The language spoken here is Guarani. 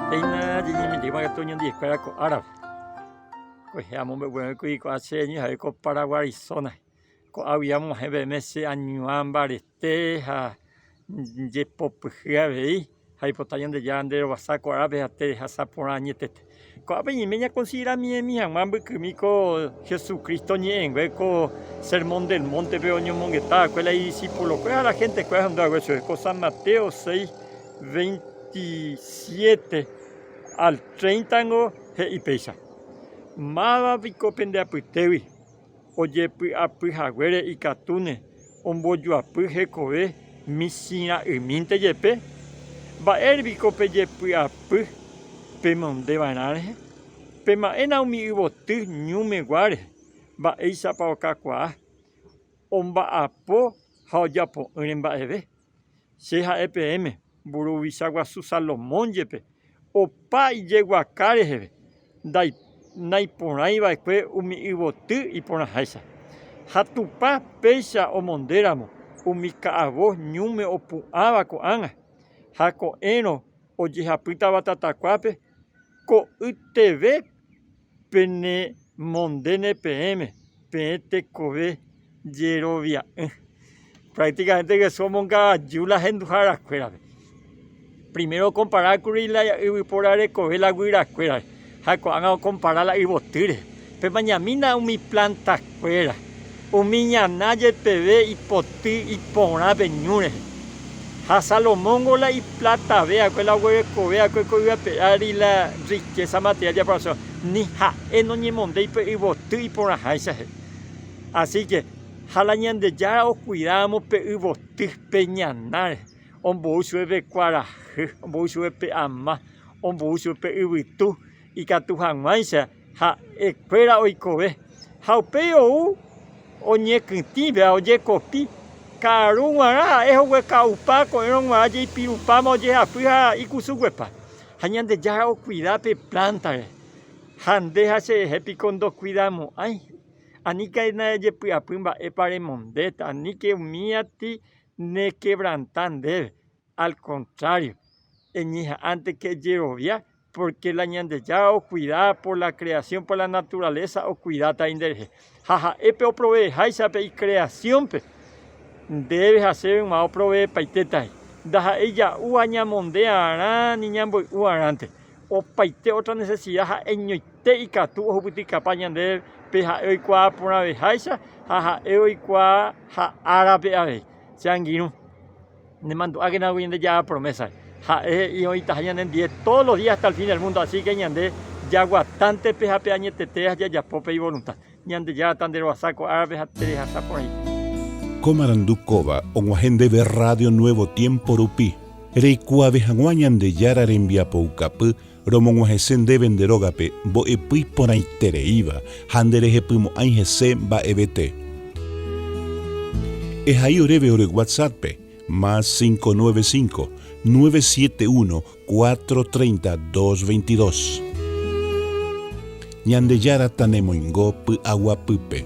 Péina ñañemetéma katu ñandeje kuéra ko árape, kuehe amombe'uve'ỹ kui ko'ã che ñeha'e ko Paraguái zona, ko'águi amo'ãhe peẽme che añuã mbarete ha jepopyhy avei. Jaipota Ñandejára nde rovasa ko árape ha nde rehasa porã añetete. Ko'ápe ñaime ñakonsidera miẽmi hag̃ua mbykymi ko Jesucristo ñe'ẽngue ko Sermón del Monte-pe oñomongeta va'ekue la idiscípulo-kue ha la gente-kue ahendu hague chupe, ko San Mateo 6, 27 al 30 ningo he'i péicha, Máva piko pende apytégui? Ojepy'apy haguére ikatúne ombojoapy hekove michĩ ra'ymínte jepe. Mba'ére piko pejepy'apy pemonde va'erã rehe? Pema'ẽna umi yvoty ñúme gua rehe, mba'éichapa okakuaa omba'apo ha ojapo'ỹre mba'eve. Che ha'e peẽme, mburuvicha guasu Salomón jepe opa ijeguaka reheve, naiporãi va'ekue umi yvoty iporãháicha. Ha Tupã péicha omonde ramo umi ka'avo ñúme opu'ãva ko'ág̃a, ha ko'ẽrõ ojehapýtava tatakuápe, ko'yteve. Penemondéne peẽme, peẽ tekove jerovia'ỹ. Prácticamente Jesús omongaaju la henduhárakuérape. Primero okompara kuri la yvypóra rekove la guyrakuérape ha ko'ág̃a okompara la yvoty rehe. Pemañamína umi planta kuéra, umi ñana jepeve ipoty iporã pe ñu rehe. Ha Salomóngo la iplatavea-kue la oguerekovea-kue ko yvape ári la rrikésa materiál de aprobación, ni ha'e noñemondéi pe yvoty iporãháichahe. Asíke, ha la Ñandejára okuidáramo pe yvoty pe ñana rehe, ombou chupe pe kuarahy, ombou chupe pe ama, ombou chupe pe yvytu ikatu hag̃uáicha. ha'e kuéra oikove, ha upéi ou oñekytĩvéva ojekopi, ka'aru guarã ha'e hogueka'upa ko'ẽrõ guarã jeipirupáma ojehapy ha ikusuguepa. Ha Ñandejára okuida pe plántare, ha nde ha cherehe piko ndokuidamo'ãi? Aníke nañajepy'apy mba'épa remondéta, aníke umíati nekevranta ndéve. Al contrario, eñeha'ãnteke ejerovia pórke la Ñandejára okuida por la kreasión, por la naturalesa okuidátari nderehe. Ha ha'e pe oproveeháicha pe ikreasiónpe, ndéve ha chéve yma oproveepaitétari. Ndaha'éi ija'úva ñamonde'arã ni ñamboy'u'arãnte. Opaite ótra nesesida ha'eñoite ikatu ohupytykapa ñandéve pe ha'e oikuaa porãveháicha ha ha'e oikuaa ha árape avei. Che angirũ. Nemandu'ákenagui ñande jaha promesa, ha'e he'i oĩtaha ñanendie todos los días hasta el fin del mundo, así que ñande jaguatánte pe ha pe añetete jajapo pe ivolunta. Ñandejára tanderoasa ko árape ha terehasa porãite. Ko marandu kóva og̃uahẽ ndéve Radio Nuevo Tiempo rupi, reikuaave hag̃ua Ñandejára rembiapoukapy Romog̃uahẽse ndéve nde rógape mbo'epy iporãitereíva ha nderehepymo'ãi hese mba'evete. Ehai oréve ore WhatsApp-pe, más cinco nueve cinco, nueve siete uno, cuatro treinta, dos veintidós. Ñandejára tanemoingo py'aguapýpe.